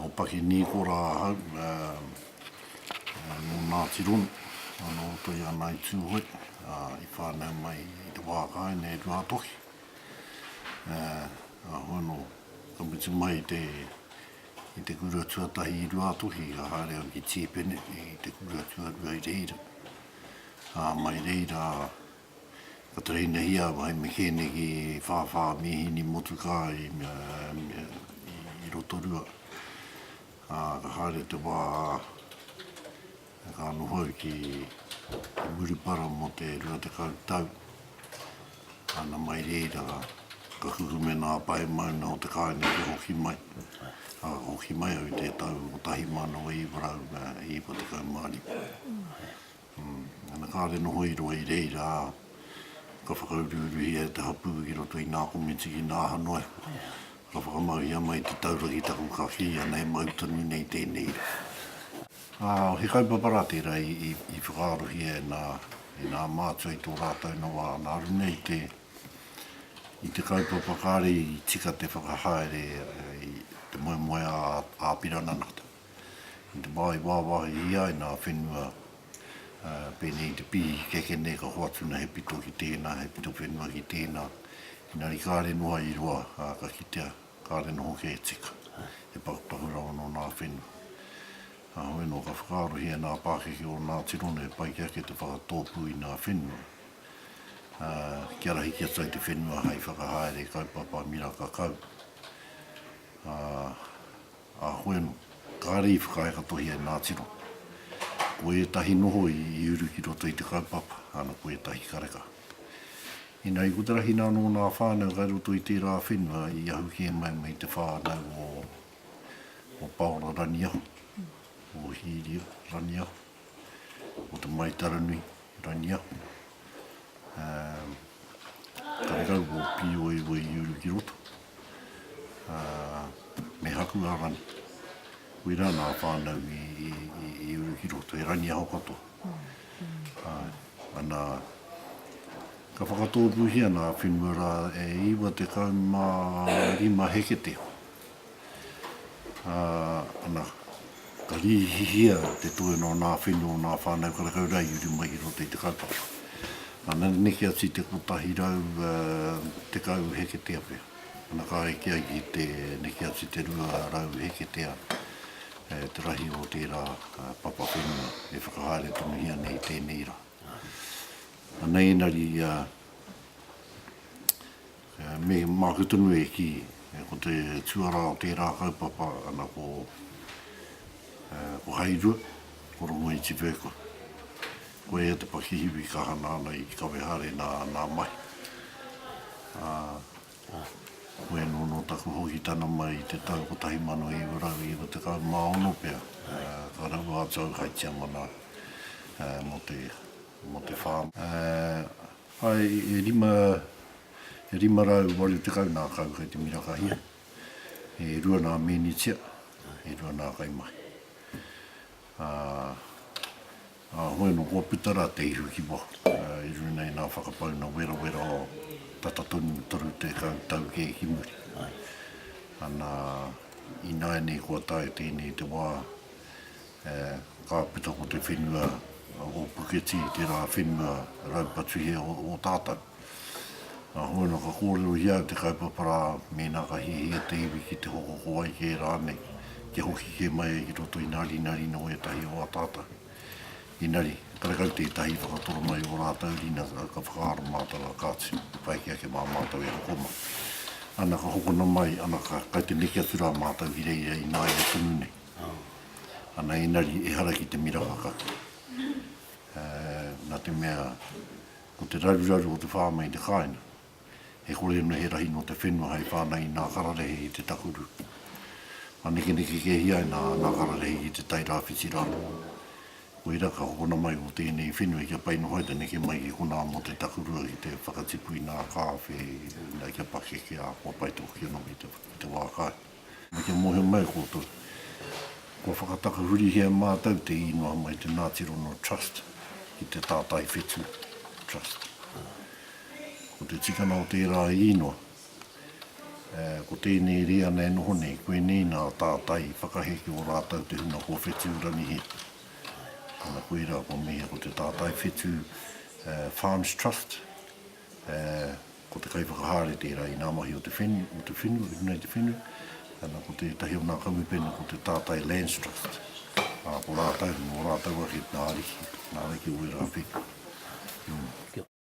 Ko Paki Nīkora ahau, nō Ngāti Ronu, nō Toi ana i Tūhoe, i whānau mai i te wā kai nei Ruatoki. Ahau anō ka mutu mai i te i te kura tuatahi i Ruatoki ka haere au ki Tīpene i te kura tuarua i reira. Mai reira Ka tuhinahia hai me kēneki whāwhā mīhini motukā i i Rotorua, ā, ka haere te wā ka noho au ki Murupara mō te rua tekau tau, nāna mai reira ka kukume nā Pae Mauna o te kāinga kia hoki mai. Ka hoki mai au i te tau 1995. Ana kāre noho i roa i reira, ka whakauruuruhia e te hapū ki roto i ngā komiti ki ngā aha noa iho, ka whakamauhia mai te taura ki taku ka kī ana he mau tonu nei tēnei rā. He kaupapa rā tērā i whakaarohia e ngā mātua i tō rātou noa ana aru nei i te kaupapa kāre i tika te whakahaere i te moemoeā āpirana nā te. i te wā i wāwāhihia ai nā whenua pēnei i te pīhikeke nei ka hoatu nei he pito ki tēnā, he pito whenua ki tēnā, engari kāre noa i roa ā, ka kitea kāre noho kē e tika, he pakupaku rawa nō nā whenua. Kāhore anō ka whakaarohia nā pākeke o Ngātiro nei he pai ki a koe te whakatōpū i nā whenua kia rahi ki atu ai te whenua hai whakahaere kaupapa miraka kau. A Hueno, kāre i whakaaekatohia e Nātiro. Ko ētahi noho i uru ki roto i te kaupapa, ana ko ētahi kareka. Ina ikotahina anō nā whānau kai roto i tērā whenua i ahu kē mai mai te whānau o Paora Raniaho, o Hīria Raniaho. o Te Maitaranui, Rangiahu, ā, kairau o Pīoeoe i uru ki roto, ā, me Hakuarangi. Koirā nā whānau i, i, i, i uru ki roto, he rangiaho katoa. Āe, ana, ka whakatōpūhia nā whenua rā e iwa tekau mā rima heketeo. Ā, ana, ka rīhihia te toenga o ngā whenua o ngā whānau karekau rā i uri mai ki roto i te kaupapa. Ana, neke atu i te 110 heketea pea. Ana, ka eke ai ki te neke atu i te 200 heketea te rahi o tērā papa whenua e whakahaere tonuhia ana i tēnei rā. Ana, engari, Me māku tonu e kī, ko te tuarā o tērā kaupapa ana ko Hairua, ko Rongoitipekoe. Ko ia te pakihiwi ka hana ana i Kawehare nā āna mahi. Ko ēnō nō taku hokitana mai i te tau 1996 pea, ka raua atu au hai tiamana mō te whā. Ae, e rima, e rima rau waru tekau nā kau kei te mirakahia, e rua nā mēnitia, e rua nā kaimahi. Ā, ā hoi anō kua puta rā te ihu ki waho, i runga i nā whakapauna werawera o tata tonu toru tekau tau kē ki muri. Ana, ināianei kua tae tēnei te wā, He kāpeta ko te whenua o Puketī, tērā whenua raupatuhia o tātou. Nā Hoena ka kōrerohia au te kaupapa rā mēnā ka hiahia te iwi ki te hokoko ai kē rānei, kia hoki kē mai ai ki roto inarinarin o ētahi o ā tātou inari, karekau tētahi i whakatoro mai i ō rātou rina ka whakaaro mātou a kāti, pai ki ake mā mātou e hoko mai. Ana ka hokona mai, ana ka kai te neke atu rā mātou ki reira ināia tonu nei. Ana engari ehara ki te mira whakake, na te mea ko te raruraru o te whānau i te kāinga, e kore ana he rahi no te whenua hai whānau i ngā kararehe i te takuru. Manekeneke ke hia ai ngā kararehe ki te tai rāwhiti rā. Koira ka hokona mai o tēnei whenua kia pai noho ai te neke mai ki konā mo te takurua ki te whakatipu i ngā kāwhe, na kia pakeke āhua pai tō ki anō ki te wā kai. Me te mōhio mai koutou, kua whakatakahurihia e mātou te īngoa mai te Ngāti Rongo Trust ki te Tātai Whetū Trust. Ko te tikanga o tērā īngoa, ko tēnei rīana e noho nei, koinei nā Tātai i whakahe ki ō rātou te hunga kua whetū rangihia. Ana koirā kua mihia ko te Tātai Whetū Farms Trust. Ko te kaiwhakahaere tērā i ngā mahi o te whenu, o te whenu, i runga i te whenu. Ana, ko tētahi o ngā kamupene ko te Tātai Lands Trust. Ko rātou, nō rātou ake ngā ariki, ngā ariki o ērā whenu.